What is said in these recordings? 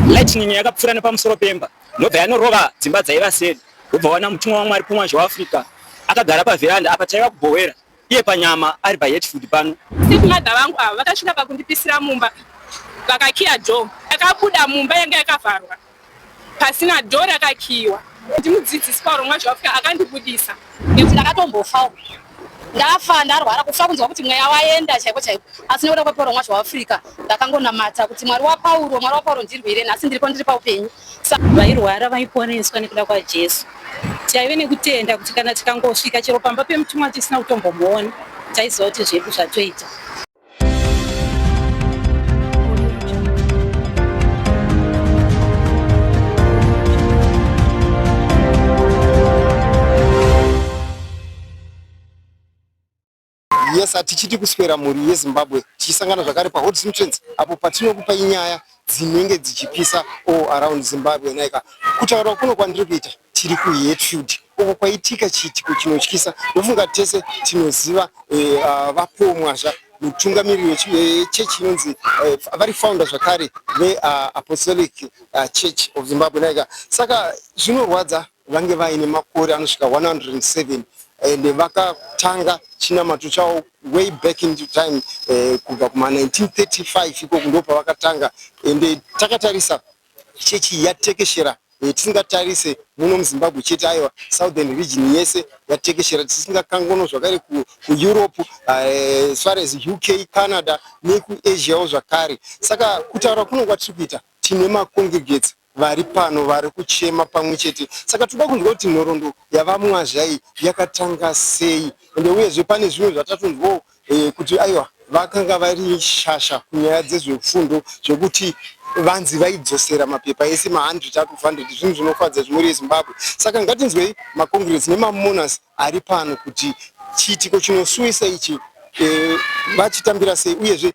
Lightning yakapfuura nepamusoro pemba ndobva yanorova dzimba dzaiva seri wobva wana mutumwa wamwari pumwazhe waafrica akagara pavheranda apa taiva kubhowera iye panyama ari pahetfood pano stepmother vangu ava vakasvika pakundipisira mumba vakakiya do akabuda mumba yanga yakavharwa pasina do rakakiyiwa ndimudzidzisi paurongwa zvaafrica akandibudisa nekuti ndakatombofawo ndafa ndarwara kufa kunzwa kuti mweya waenda chaiko chaiko asi nekuda kweporomwa zveafrica ndakangonamata kuti mwari wapauro mwari wapauro ndirwire nhasi ndiripo ndiri paupenyu vairwara vaiponeswa nekuda kwajesu taive nekutenda kuti kana tikangosvika chero pamba pemutumwa tisina kutombomuona taiziva kuti zvedu zvatoita yes hatichiti kuswera mhuri yezimbabwe tichisangana zvakare pahotsmtrance apo patinokupai nyaya dzinenge dzichipisa all around Zimbabwe naika kutaura kuno kwandiri kuita tiri kuHatfield uko kwaitika chiitiko chinotyisa ndofunga tese tinoziva eh, ah, vapomwazva mutungamiri wechechi eh, inonzi eh, vari founder zvakare veapostolic ah, church of Zimbabwe naika saka zvinorwadza vange vaine makore anosvika 107 and vakatanga chinamato chavo way back in the time eh, kubva kuma 1935 ikoko ndo pavakatanga ende eh, takatarisa chechi yatekeshera eh, tisingatarise muno muzimbabwe chete aiwa southern region yese yatekeshera tisingakangono zvakare kueurope ku eh, as far as uk canada nekuasiawo zvakare saka kutaura kuno kwatiri kuita tine macongregates vari pano vari kuchema pamwe chete saka tinoda kunzwa kuti nhoroondo yavamwazha iyi yakatanga sei ende uyezve pane zvimwe zvatatonzwawo eh, kuti aiwa vakanga vari shasha kunyaya dzezvefundo zvekuti vanzi vaidzosera mapepa ese ma100 up 100 zvinhu zvinofadza zvimuri yezimbabwe saka ngatinzwei macongress nemamonas ari pano kuti chiitiko chinosuwisa ichi eh, vachitambira sei uyezve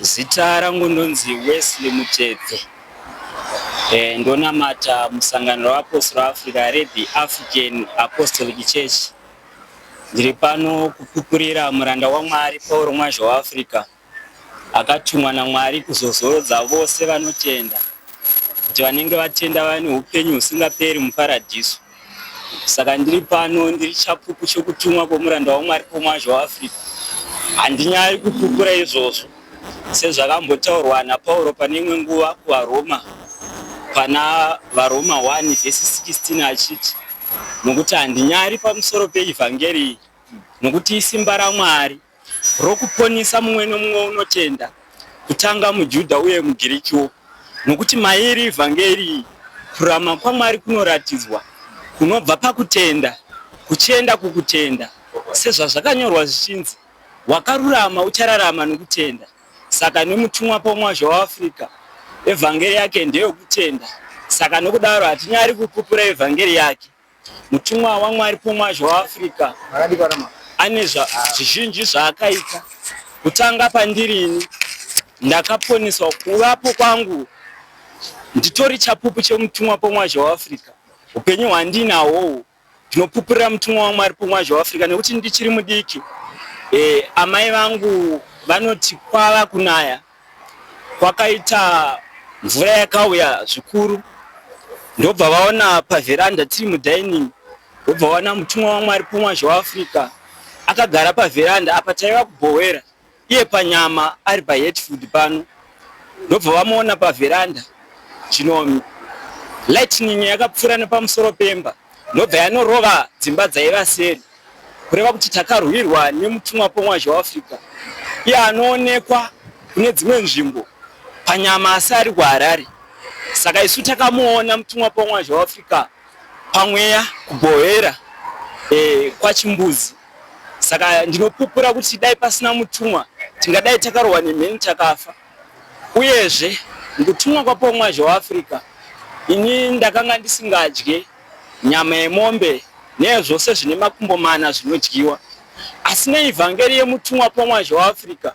Zita rangu ndonzi Wesley Muchedze. Eh, ndonamata musangano reapostora Africa reThe African Apostolic Church. Ndiri pano kupupurira muranda waMwari Pauro Mwazha weAfrica. akatumwa naMwari kuzozorodza vose vanotenda, kuti vanenge vatenda vave neupenyu husingaperi muParadhiso. Saka ndiri pano, ndiri chapupu chokutumwa kwomuranda waMwari kwomwazha weAfrica. Handinyari kupupura izvozvo, sezvakambotaurwa naPauro pane imwe nguva kuvaRoma, pana vaRoma 1 vhesi 16 achiti, Nokuti handinyari pamusoro peEvhangeri iyi, nokuti isimba raMwari rokuponisa mumwe nomumwe unotenda, kutanga muJudha uye muGirikiwo. Nokuti mairi Evhangeri iyi, kururama kwaMwari kunoratidzwa kunobva pakutenda kuchienda kukutenda, sezvazvakanyorwa zvichinzi, Wakarurama uchararama nokutenda. Saka nemutumwa pamwazha weAfrica, Evhangeri yake ndeyokutenda. Saka nokudaro hatinyari kupupura Evhangeri yake, Mutumwa waMwari pamwazha waAfrica ane zvizhinji zvaakaita. Kutanga pandiri ini ndakaponeswa kuvapo kwangu nditori chapupu chemutumwa pamwazha waAfrica. Upenyu hwandinahwowo ndinopupurira mutumwa waMwari pamwazha waAfrica nekuti ndichiri mudiki. Eh, amai vangu vanoti kwava kunaya. kwakaita mvura yakauya zvikuru ndobva vaona pavheranda tiri mudining ndobva vaona mutumwa wamwari pomwazhe waafrica akagara pavheranda apa taiva kubhowera iye panyama ari pahetfood pano ndobva vamuona pavheranda chino lightning yakapfuura nepamusoro pemba ndobva yanorova dzimba dzaiva seri kureva kuti takarwirwa nemutumwa pomwazha weafrica iye anoonekwa kune dzimwe nzvimbo panyama asi ari kuharare saka isu takamuona mutumwa pomwazha weafrica pamweya kugohera e, kwachimbuzi saka ndinopupura kuti dai pasina mutumwa tingadai takarohwa nemheni takafa uyezve mukutumwa kwapomwazha weafrica ini ndakanga ndisingadye Nyama yemombe nezvose zvine makumbo mana zvinodyiwa. Asi neivhangeri yemutumwa pamwazha waAfrica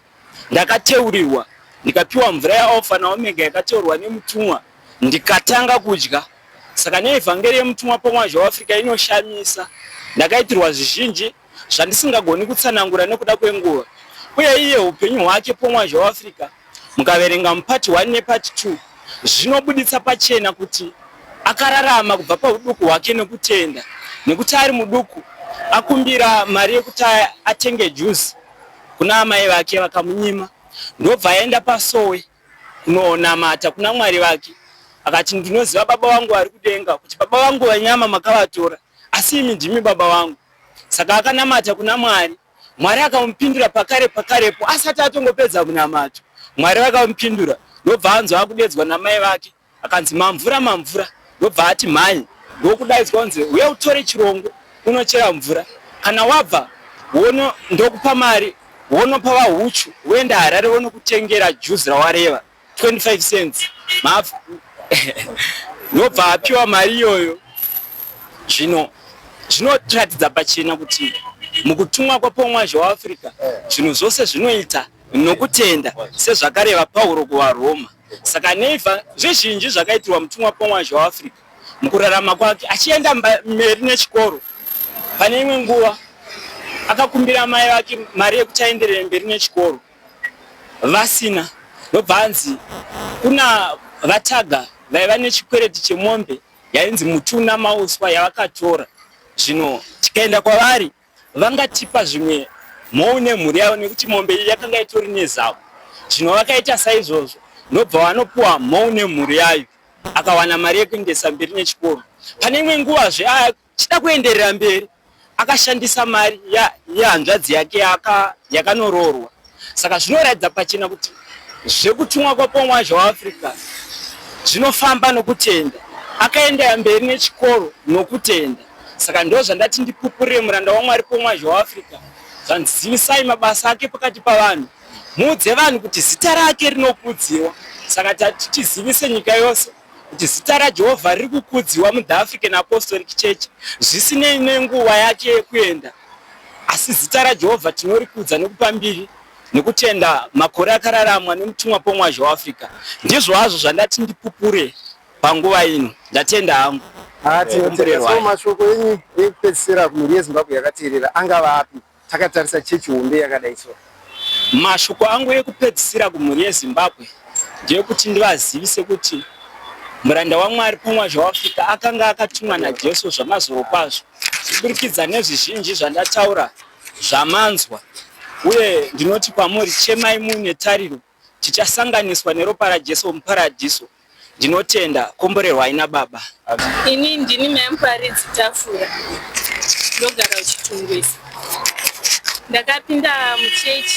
ndakateurirwa ndikapiwa mvura yaAlfa naOmega yakateurwa nemutumwa ndikatanga kudya. Saka neivhangeri yemutumwa pamwazha waAfrica inoshamisa. Ndakaitirwa zvizhinji zvandisingagoni kutsanangura nekuda kwenguva, uye iye upenyu hwake pomwazha weAfrica, mukaverenga muPart 1 nePart 2, zvinobuditsa pachena kuti akararama kubva pahuduku hwake nekutenda, nekuti ari muduku akumbira mari yekuti atenge juzi kuna amai vake vakamunyima, ndobva aenda pasowe kunonamata kuna Mwari vake akati ndinoziva baba vangu vari kudenga kuti baba vangu vanyama makavatora asi imi ndimi baba vangu. Saka akanamata kuna Mwari, Mwari akamupindura pakare pakarepo asati atongopedza kunamata. Mwari vakamupindura ndobva anzwa akudedzwa namai vake akanzi mamvura mamvura, ndobva ati mhanye ndokudaidzwa kunzi uye utore chirongo unochera mvura kana wabva wono ndokupa mari wonopa vahuchu woenda Harare wonokutengera juzi rawareva. 25 cents mafu nobva apiwa mari iyoyo zvino zvinotiratidza pachena kuti mukutumwa kwapomwazhe waafrica zvinhu zvose zvinoita nokutenda sezvakareva pauro kuvaroma saka neifa zvizhinji zvakaitirwa mutumwa pomwazhe waafrica mukurarama kwake achienda mberi nechikoro pane imwe nguva akakumbira mai vake mari yekuti aenderere mberi nechikoro vasina ndobva anzi kuna vataga vaiva nechikwereti chemombe yainzi mutuna mauswa yavakatora zvino tikaenda kwavari vangatipa zvimwe mhou nemhuri yavo nekuti mombe iyi yakanga itori nezavo zvino vakaita saizvozvo ndobva vanopiwa mhou nemhuri yayo akawana mari yekuendesa mberi nechikoro pane imwe nguva zve Tichida kuenderera mberi, akashandisa mari yehanzvadzi yake yakanoroorwa. Saka zvinoratidza pachena kuti zvekutumwa kwaPongwa zveAfrica zvinofamba nokutenda. Akaendera mberi nechikoro nokutenda. Saka ndoo zvandati ndipupurire muranda waMwari Pongwa zveAfrica. Zvanzi zivisai mabasa ake pakati pavanhu. Muudze vanhu kuti zita rake rinokudzirwa. Saka tati tizivise nyika yose. kuti zita raJehovha riri kukudziwa muThe African Apostolic Church zvisinei nenguva yake yekuenda. Asi zita raJehovha tinorikudza nekupa mbiri nekutenda makore akararamwa nemutumwa pomwazha weAfrica. Ndizvo hazvo zvandati ndipupure panguva ino. Ndatenda hangu. Ah, tinotenda. So mashoko enyu ekupedzisira kumhuri yeZimbabwe yakateerera angava api? Takatarisa chechi hombe yakadai so. Mashoko angu ekupedzisira kumhuri yeZimbabwe ndeyekuti ndivazivise kuti muranda waMwari pamwazha waAfrica akanga akatumwa naJesu zvamazoro kwazvo kuburikidza nezvizhinji zvandataura zvamanzwa uye ndinoti kwamuri chemai muine tariro Tichasanganiswa neropa raJesu muparadhiso. Ndinotenda. Komborerwai naBaba. Ini ndini mai Muparidzi Tafura ndogara kuChitungwiza. Ndakapinda muchurch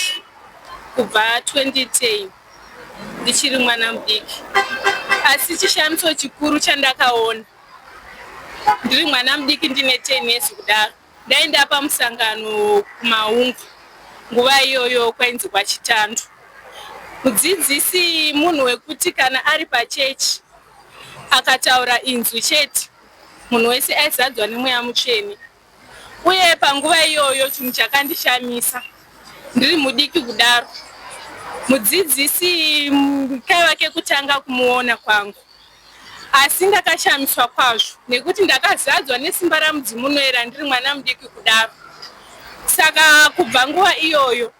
kubva 2010 ndichiri mwana mudiki asi chishamiso chikuru chandakaona ndiri mwana mudiki ndine 10 years kudaro Ndaenda pamusangano kuMaungu nguva iyoyo kwainzi kwaChitando. Mudzidzisi munhu wekuti kana ari pachechi akataura inzwi chete munhu wese aizadzwa nemweya mutsvene uye panguva iyoyo chinhu chakandishamisa ndiri mudiki kudaro mudzidzisi kaiva kekutanga kumuona kwangu Asi ndakashamiswa kwazvo nekuti ndakazadzwa nesimba ramudzimu unoera ndiri mwana mudiki kudaro. Saka kubva nguva iyoyo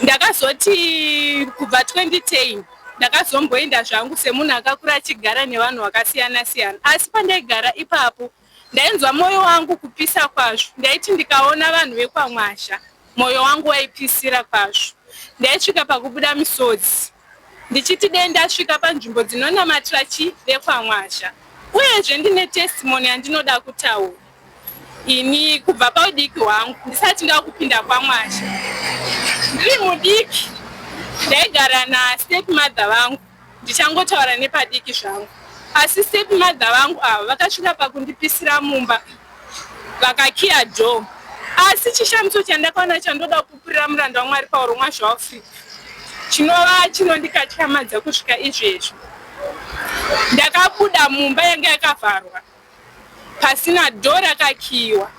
ndakazoti kubva 2010 ndakazomboenda zvangu semunhu akakura achigara nevanhu vakasiyana siyana asi pandaigara ipapo Ndainzwa moyo wangu kupisa kwazvo ndaiti ndikaona vanhu vekwaMwazha moyo wangu waipisira kwazvo ndaisvika pakubuda misodzi ndichiti dei ndasvika panzvimbo dzinonamatira chi vekwaMwazha uyezve ndine testimony yandinoda kutaura ini kubva paudiki hwangu ndisati ndakupinda kwaMwazha ndiri mudiki ndaigara nastep mother vangu Ndichangotaura nepadiki zvangu asi step mother vangu ava vakasvika pakundipisira mumba vakakiya door asi chishamiso chandakaona chandoda kupupurira muranda wamwari pauro mwazvaafrica chinova chinondikatyamadza kusvika izvezvi ndakabuda mumba yanga yakavharwa pasina door rakakiiwa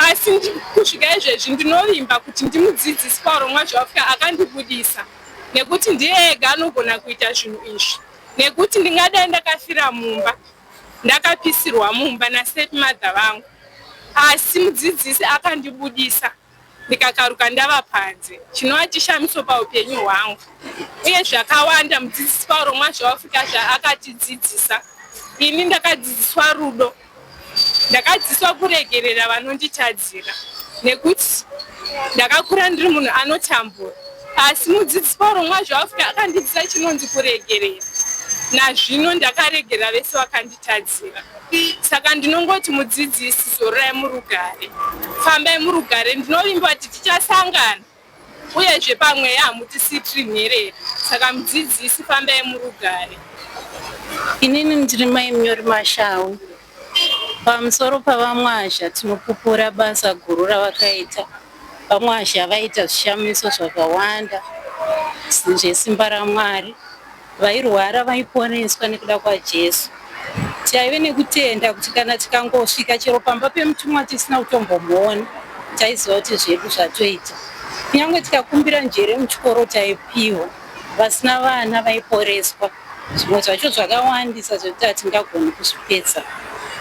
asi kusvika izvezvi ndinovimba kuti ndimudzidzisi paurongwa zvaafika akandibudisa nekuti ndiye ega anogona kuita zvinhu izvi nekuti ndingadai ndakafira mumba ndakapisirwa mumba nastep mother vangu asi mudzidzisi akandibudisa ndikakaruka ndava panze chinova chishamiso paupenyu hwangu uye zvakawanda mudzidzisi pauro mwazvaafrika zvaakatidzidzisa ini ndakadzidziswa rudo ndakadzidziswa kuregerera vanonditadzira nekuti ndakakura ndiri munhu anotambura asi mudzidzisi pauro mwazvaafrika akandidzisa chinonzi kuregerera nazvino ndakaregera vese vakandi Tadzira. Saka ndinongoti mudzidzisi zororai murugare. Fambai murugare ndinovimba kuti tichasangana. Uyezve pamweya hamutisitiri nherera. Saka mudzidzisi fambai murugare. Inini ndiri mai Munyori Mashau. Pamusoro pavamwazha tinopupura basa guru ravakaita. Vamwazha vaita zvishamiso zvakawanda zvesimba raMwari. Vairwara vaiponeswa nekuda kwaJesu. Taive nekutenda kuti kana tikangosvika chero pamba pemutumwa tisina kutombomuona, taiziva kuti zvedu zvatoita. Kunyange tikakumbira njere muchikoro taipihwa, vasina vana vaiporeswa. Zvimwe zvacho zvakawandisa zvekuti hatingagoni kuzvipedza,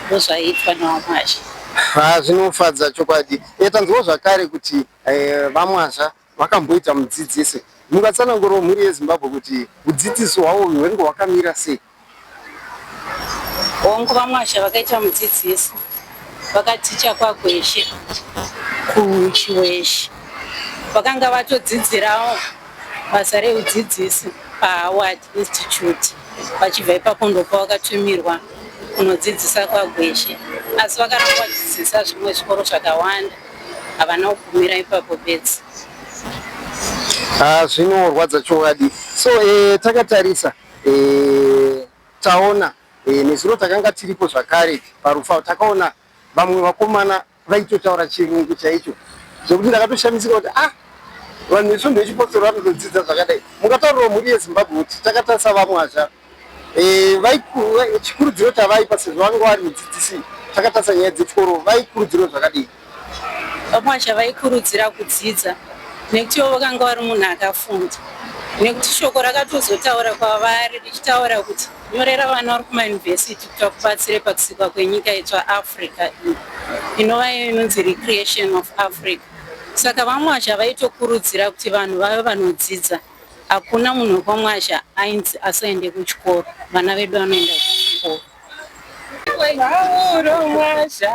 ndozvaiitwa naVaMwazha. Haa zvinofadza chokwadi. Tanzwawo zvakare kuti eh, VaMwazha Vakamboita mudzidzisi. Mungatsanangurawo mhuri yeZimbabwe kuti hudzidzisi hwavo hwengu hwakamira sei? Hongu, VaMwasha vakaita mudzidzisi. Vakaticha kwaGweshe kuChiweshe. Vakanga vatodzidzirawo basa rehudzidzisi paHoward. Institute vachibva ipapo ndopa vakatumirwa kunodzidzisa kwagweshe asi vakaramba vachidzidzisa zvimwe zvikoro zvakawanda havana kugumira ipapo bedzi ah, zvinorwadza chokwadi so eh, takatarisa eh, taona eh, nezuro takanga tiripo zvakare parufa takaona vamwe vakomana Vaitotaura chirungu chaicho zvekuti ndakatoshamisika kuti ah vanhu vesvondo yechipostori vanotodzidza zvakadai mukataurirwa mhuri yezimbabwe kuti takatarisa vamwe azva eh, chikurudziro chavaipa sezvo vanga vari mudzidzisi takatarisa nyaya dzechikoro vaikurudziro zvakadii vamwe azva vaikurudzira kudzidza nekuti ivo vakanga vari munhu akafunda nekuti shoko rakatozotaura kwavari richitaura kuti Nyorera vana vari kumayunivhesiti kuti vakubatsire pakusikwa kwenyika itsva Africa iyi inova iyo inonzi Recreation of Africa. Saka VaMwazha vaitokurudzira kuti vanhu vave vanodzidza. Hakuna munhu wekwaMwazha ainzi asaende kuchikoro, vana vedu vanoenda kuchikoro. Pauro Mwazha,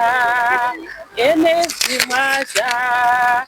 Enezi Mwazha.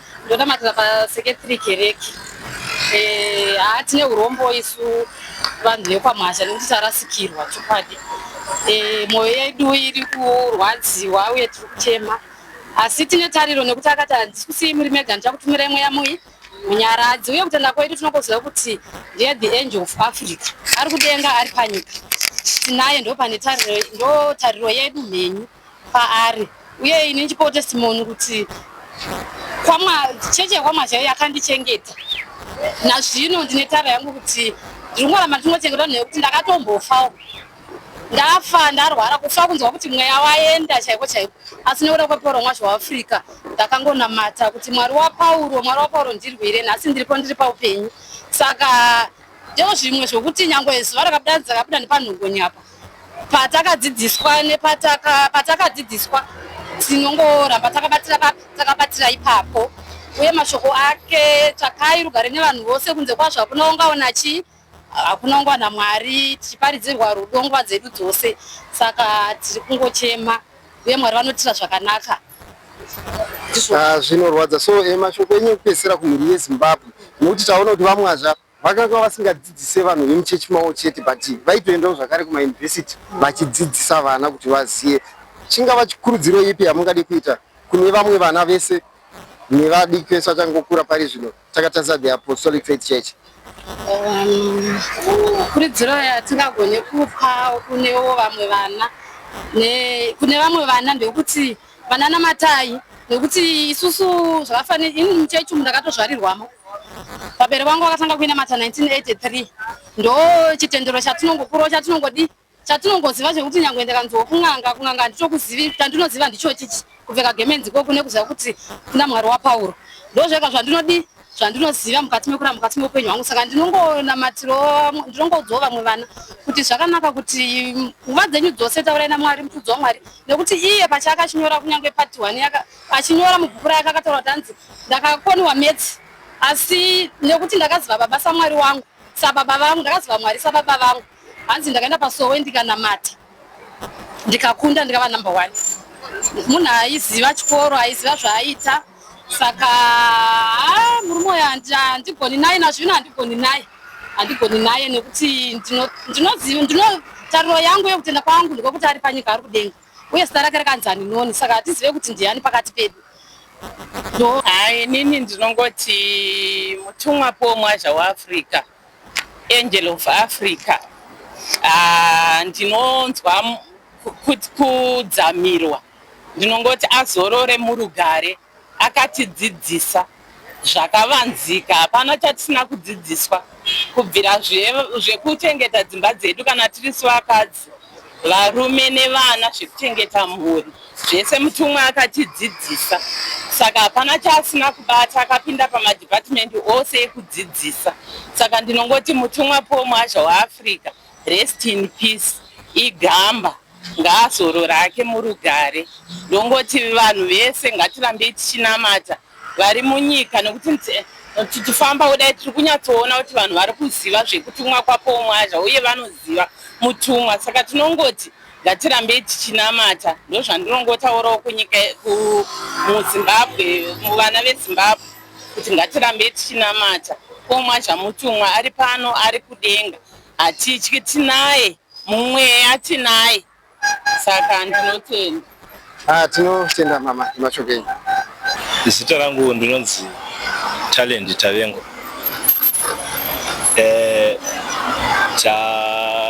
ndonamatira paseketiri kereke eh, haa tine urombo isu vanhu vekwamhasha nekuti tarasikirwa chokwadi eh, mwoyo yedu iri kurwadziwa uye tiri kuchema asi tine tariro nekuti akati handisi kusiyi muri mega ndichakutumirai mweya muyi munyaradzi uye kutenda kwedu tinokoziva kuti ndiye the angel of africa ari kudenga ari panyika tinaye ndo pane tariro ndo tariro yedu mhenyu paari uye ini ndichipawo testimony kuti chechi yekwamwa chaiyo yakandichengeta nazvino ndine tara yangu kuti ndinongoramba ndichingochengeta vanhu nekuti ndakatombofawo ndafa ndarwara kufa kunzwa kuti mweya waenda chaiko chaiko asi nekuda kweporo mwazvo waafrica ndakangonamata kuti mwari wapauro mwari wapauro ndirwire nhasi ndiripo ndiri paupenyu saka ndoo zvimwe zvokuti nyange zuva rakabuda dzakabuda nepanhongonyapa patakadzidziswa nepatakadzidziswa tinongoramba takabatira papi takabatira ipapo uye mashoko ake tsvakai rugare nevanhu vose kunze kwazvo hakuna ungaona chii hakuna ungaona mwari tichiparidzirwa rudo nguva dzedu dzose saka tiri kungochema uye mwari vanotira zvakanaka ah, zvinorwadza so eh, mashoko enyu ekupedzisira kumhuri yezimbabwe nokuti taona kuti vamwazva Vakanga vasingadzidzise vanhu vemuchechi mavo chete but vaitoendawo zvakare kumayunivhesiti vachidzidzisa vana kuti vazive. Chingava chikurudziro ipi yamungade kuita kune vamwe vana vese nevadiki vese vachangokura pari zvino takatarisa the Apostolic Faith Church? Um, kurudziro yatingagone kupa kunewo vamwe vana kune vamwe vana ndekuti Banana matai nekuti isusu zvakafanira ini muchechi umu ndakatozvarirwamo vabere vangu vakatanga kuinamata 1983 ndo chitendero chatinongokurawo chatinongodi chatinongoziva zvekuti nyangwe ndakanziwo kun'anga kun'anga handitokuzivi chandinoziva ndicho chichi kupfeka gemenzi ko kune kuziva kuti kuna mwari wapauro ndo zvega zvandinodii zvandinoziva mukati mekuramba mukati meupenyu hwangu saka ndinongonamatiro ndinongoudzawo vamwe vana kuti zvakanaka kuti nguva dzenyu dzose taurai namwari mufudzi wamwari nekuti iye pachake achinyora kunyange pati one achinyora mubhuku rake akataura kuti anzi ndakakoniwa metsi asi nekuti ndakaziva baba samwari wangu sababa vangu ndakaziva mwari sababa vangu hanzi ndakaenda pasowe ndikanamata ndikakunda ndikava number one munhu aiziva chikoro aiziva zvaaita saka ah, murume uyo handigoni naye nazvino handigoni naye handigoni naye nekuti ndinotariro yangu yekutenda kwangu ndekwekuti ari panyika ari kudenga uye zita rake rakanzi haninoni saka hatizive kuti ndiani pakati pedu hayi nini ndinongoti mutumwa pomwazha weafrica Angel of Africa ah, ndinonzwa kudzamirwa ndinongoti azorore murugare akatidzidzisa zvakavanzika hapana chatisina kudzidziswa kubvira zvekuchengeta dzimba dzedu kana tiri sivakadzi varume nevana zvekuchengeta mhuri zvese mutumwa akatidzidzisa saka hapana chaasina kubata akapinda pamadhipatimendi ose ekudzidzisa saka ndinongoti mutumwa paul mwazha weafrica rest in peace igamba ngaazorora ake murugare ndongoti vanhu vese ngatirambei tichinamata vari munyika nokuti tichifamba kudai tiri kunyatsoona kuti vanhu vari kuziva zvekutumwa kwapoumwazha uye vanoziva mutumwa saka tinongoti ngatirambei tichinamata ndozvandinongotaurawo kunyika muzimbabwe muvana vezimbabwe kuti ngatirambei tichinamata poumwazha mutumwa ari pano ari kudenga hatityi tinaye mumweya tinaye saka ndinotenda ah tinotenda mama mashoko enyu zita rangu ndinonzi talent tavengo eh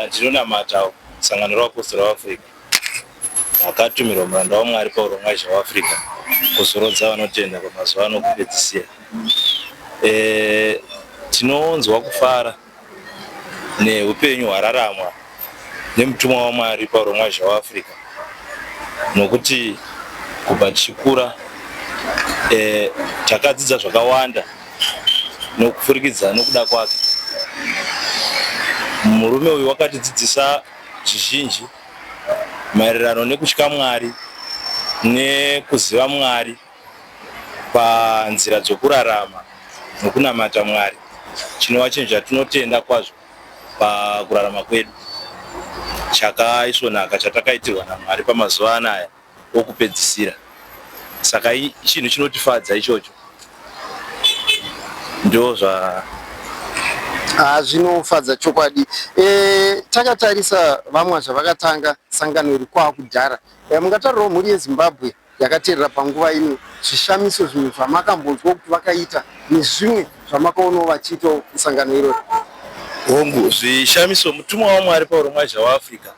ndinonamata sangano revapostora veafrica vakatumirwa muranda wamwari pauro mwaizha weafrica kuzorodza vanotenda kwamazuva ano kupedzisira eh, tinonzwa kufara neupenyu hwararamwa nemutumwa waMwari pauro mwazha waAfrica nokuti kubva tichikura eh, takadzidza zvakawanda nokupfurikidza nokuda kwake murume uyu wakatidzidzisa zvizhinji maererano nekutya mwari nekuziva mwari panzira dzokurarama nokunamata Mwari chinova chinhu chatinotenda kwazvo pakurarama kwedu chakaisvonaka chatakaitirwa naMwari pamazuva anaya okupedzisira saka chinhu chinotifadza ichocho ndozva ah, zvinofadza chokwadi e, takatarisa vamwa zvavakatanga sangano iri kwakudhara e, eh, mungatarirawo mhuri yezimbabwe yakateerera panguva ino zvishamiso zvimwe zvamakambonzwa kuti vakaita nezvimwe zvamakaonawo vachiitawo musangano irori hongu zvishamiso mutumwa wamwari pauro mwazha waafrica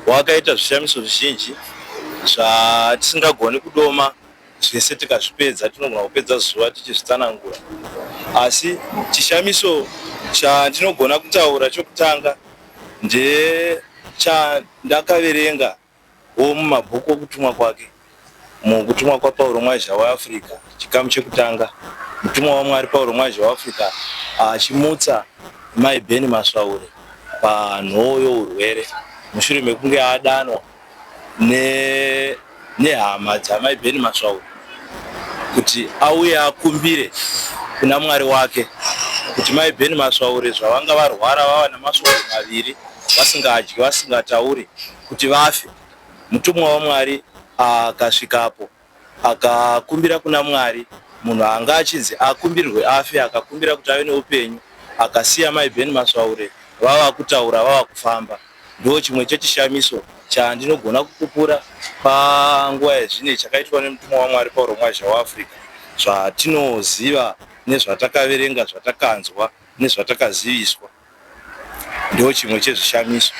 wakaita zvishamiso zvizhinji zvatisingagoni kudoma zvese tikazvipedza tinogona kupedza zuva tichizvitsanangura asi chishamiso chandinogona kutaura chokutanga ndechandakaverenga wo mumabhuku okutumwa kwake. Mu Kutumwa kwaPauro Mwazha weAfrica, chikamu chekutanga, mutumwa waMwari Pauro Mwazha weAfrica achimutsa Mai Benny Masvaure pa nhoo yourwere mushure mekunge adanwa ne nehama dzaMai Benny Masvaure. kuti auye akumbire kuna Mwari wake kuti mai Ben Masvaure zvavanga varwara vava nemasvondo maviri vasingadyi vasingatauri kuti vafe. Mutumwa waMwari akasvikapo akakumbira kuna Mwari munhu anga achinzi akumbirwe afe akakumbira kuti ave neupenyu akasiya mai Ben Masvaure vava kutaura vava kufamba. Ndiwo chimwe chechishamiso chandinogona kupupura panguva yezvine chakaitwa nemutumwa waMwari Pauro Mwazha waAfrica, zvatinoziva nezvatakaverenga, zvatakanzwa nezvatakaziviswa. Ndiwo chimwe chezvishamiso.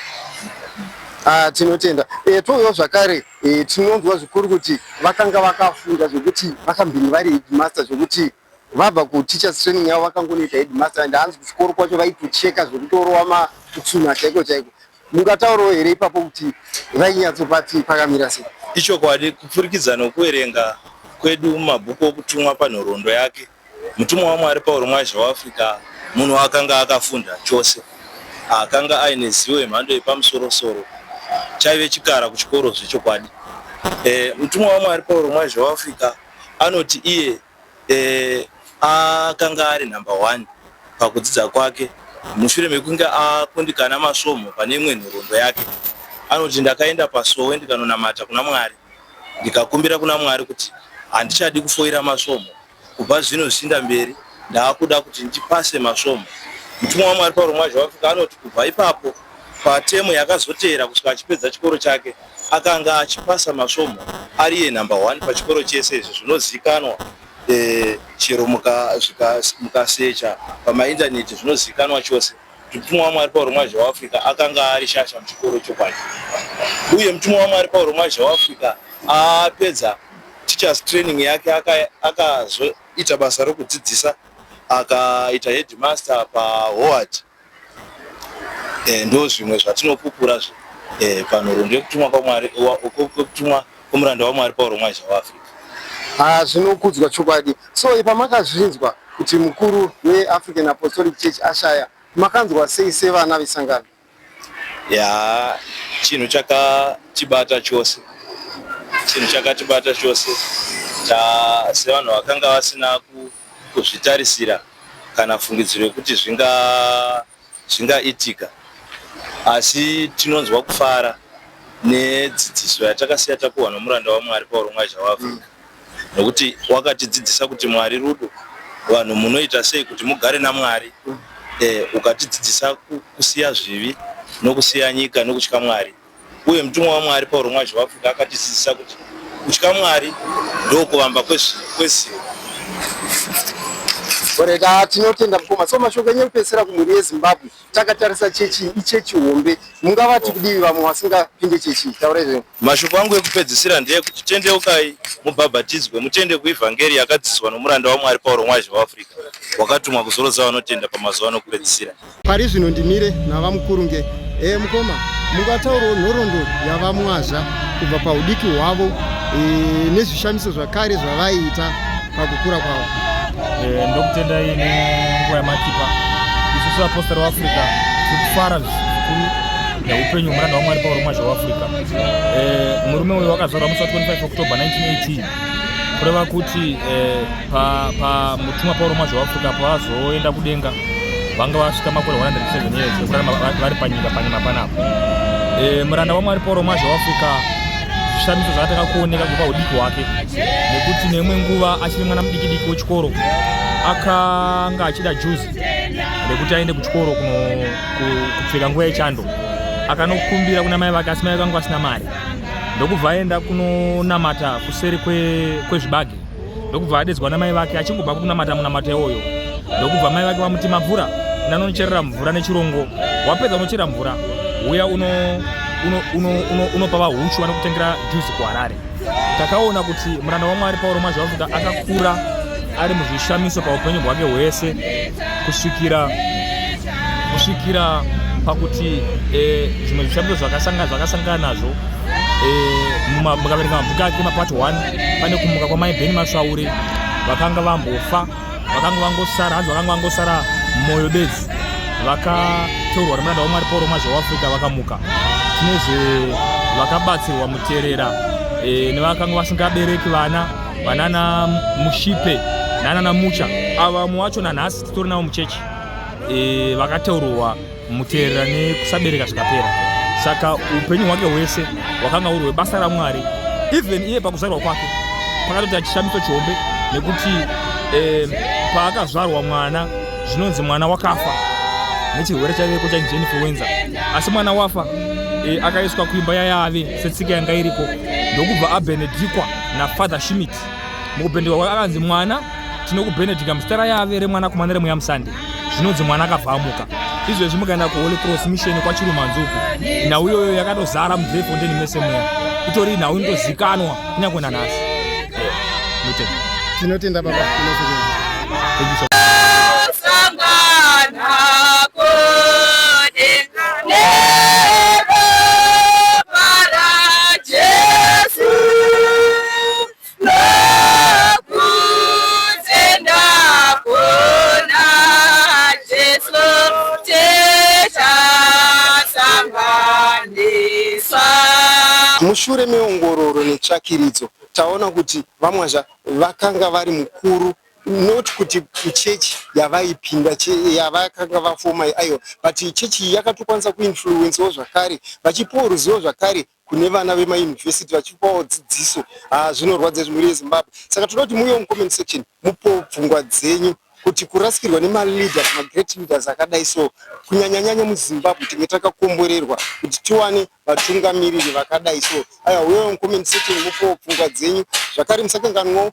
Ah, tinotenda e, touyawo zvakare e, tinonzwa zvikuru kuti vakanga vakafunda zvekuti vakambini vari headmaster zvekuti Vabva ku teachers training yavo vakangonoita headmaster and hanzi kuchikoro kwacho vaitocheka zvekutorova ma kutsuna chaiko chaiko. Mungataurawo here ipapo kuti vainyatsopa tii pakamira sei? Ichokwadi kupfurikidza nokuverenga kwedu mumabhuku okutumwa panhoroondo yake, mutumwa waMwari Pauro Mwazha weAfrica munhu akanga akafunda chose, akanga aine zivo yemhando yepamusoro soro. Chaive chikara kuchikoro zvechokwadi. E, mutumwa waMwari Pauro Mwazha weAfrica anoti iye Akanga ari nhamba hwani pakudzidza kwake mushure mekunge akundikana masvomhu pane imwe nhoroondo yake. Anoti, Ndakaenda pasowe ndikanonamata kuna Mwari ndikakumbira kuna Mwari kuti handichadi kufoira masvomhu. Kubva zvino zvichiinda mberi ndava kuda kuti ndipase masvomhu. Mutumwa waMwari Pauro Mwazhavafika anoti kubva ipapo, Patemu yakazoteera kusvika achipedza chikoro chake, akanga achipasa masvomhu ari iye nhamba hwani pachikoro chese izvo zvinozivikanwa eh, chero mukasecha pamaindaneti zvinozivikanwa chose kuti mutumwa waMwari Pauro Mwazha weAfrica akanga ari shasha muchikoro chokwadi. Uye mutumwa waMwari Pauro Mwazha weAfrica apedza teachers training yake akazoita basa rokudzidzisa akaita headmaster paHoward eh, ndo zvimwe zvatinopupura zve eh, panhoroondo yekutumwa kwamwari kwekutumwa kwomuranda wamwari pauro mwaizha waafrica ah, zvinokudzwa chokwadi so ipamakazvinzwa kuti mukuru weafrican apostolic church ashaya makanzwa sei sevana vesangano ya chinhu chakatibata chose chinhu chakatibata chose sevanhu vakanga vasina kuzvitarisira kana fungidziro yekuti zvinga zvingaitika asi tinonzwa kufara nedzidziso yatakasiya tapuhwa nomuranda waMwari Pauro Mwazha waAfrica nokuti wakatidzidzisa kuti Mwari rudo vanhu munoita sei kuti mugare naMwari eh, ukatidzidzisa kusiya zvivi nokusiya nyika nokutya Mwari Uye mutumwa waMwari Pauro mwacho waAfrica akatidzidzisa kuti kutya Mwari ndokuvamba kwezivo. Oreka tinotenda mukoma. So mashoko enyu ekupedzisira kumhuri yeZimbabwe takatarisa chechi ichechi hombe mungavati kudivi vamwe vasingapinde chechi taura izveni. Mashoko angu ekupedzisira ndeyekuti tendeukai mubhabhatidzwe mutende kuivhangeri yakadzidziswa nomuranda waMwari Pauro Mwazhe waAfrica wakatumwa kuzorodza vanotenda pamazuva anokupedzisira. Pari zvino ndimire navamukurunge. E, mukoma, mungataurawo nhoroondo yavamwazha kubva paudiki hwavo e, nezvishamiso zvakare zvavaiita pakukura kwavo? E, ndokutendai nenguva yamatipa isusu vapostori veafrica tiri kufara zvikuru neupenyu hwemuranda wamwari pauro mwazha weafrica e, murume uyo wakazorwa musi wa 25 october 1918 kureva kuti eh, pamutumwa pauro mwazvo waafrica pavazoenda kudenga vanga vasvika makore 107 years ekurarama vari panyika panyima panapa eh, muranda wamwari pauro mwazvo waafrica zvishamiso zvakatanga kuoneka kubva udiki hwake nekuti neimwe nguva achiri mwana mudikidiki wechikoro akanga achida juzi rekuti aende kuchikoro kupfeka nguva yechando akanokumbira kuna mai vake asi mai vanga vasina mari ndokubva aenda kunonamata kuseri kwezvibage kwe ndokubva adedzwa namai vake achingobva kunamata munamata iwoyo ndokubva mai vake vamuti mabvura ndanonocherera mvura nechirongo wapedza unochera mvura uya unopa uno, uno, uno, uno vahuchu vanokutengera juzi kuharare takaona kuti muranda wamwari pauro mazvavuka akakura ari muzvishamiso paupenyu bwake hwese kusvikira kusvikira pakuti eh, zvimwe zvishamiso zvakasangana nazvo eh, mukaverenga mabhuku ake mapart 1 pane kumuka kwamai beni masvauri vakanga vambofa vakanga vangosara hanzi vakanga vangosara moyo bedzi vakatorwa nemuranda wamwari pauro mazha weafrica vakamuka tine zve vakabatsirwa muterera eh, nevakanga vasingabereki vana vanana mushipe nanana mucha ava mumwe wacho nanhasi Sitori navo muchechi e, vakateurwa muteerera nekusabereka zvikapera saka upenyu hwake hwese hwakanga huri hwebasa ramwari even iye pakuzvarwa kwake pakatoita chishamiso chihombe nekuti e, paakazvarwa mwana zvinonzi mwana wakafa nechirwere chaiveko chainzi influenza asi mwana wafa e, akaiswa kuimba yayave setsika yanga iriko ndokubva abenedikwa nafather shimit mukubendekwa kwake akanzi mwana tinokubenedika muzita rayave remwanakomana remweya musande zvinonzi mwana akabva amuka izvezvi mukaenda kuholy cross mission kwachirumanzuku nhau iyoyo yakatozara mudrefondeni mese mweya itori nhau inotozikanwa kunyange nanhasi tinotenda baba Mushure meongororo netsvakiridzo taona kuti VaMwazha vakanga vari mukuru not kuti chechi yavaipinda yavakanga vafoma aiwa but chechi yakatokwanisa kuinfluencewo zvakare vachipiwa ruzivo zvakare kune vana vemauniversity vachipawo dzidziso haa zvinorwadza izvi mhuri yezimbabwe saka tinoda kuti muuyewo mucomment section mupo pfungwa dzenyu kuti kurasikirwa nemaleaders magreat leaders akadai so kunyanyanyanya muzimbabwe tinge takakomborerwa kuti tiwane vatungamiriri vakadai so aya uyewo mucomment section mupo pfungwa dzenyu zvakare musakanganwawo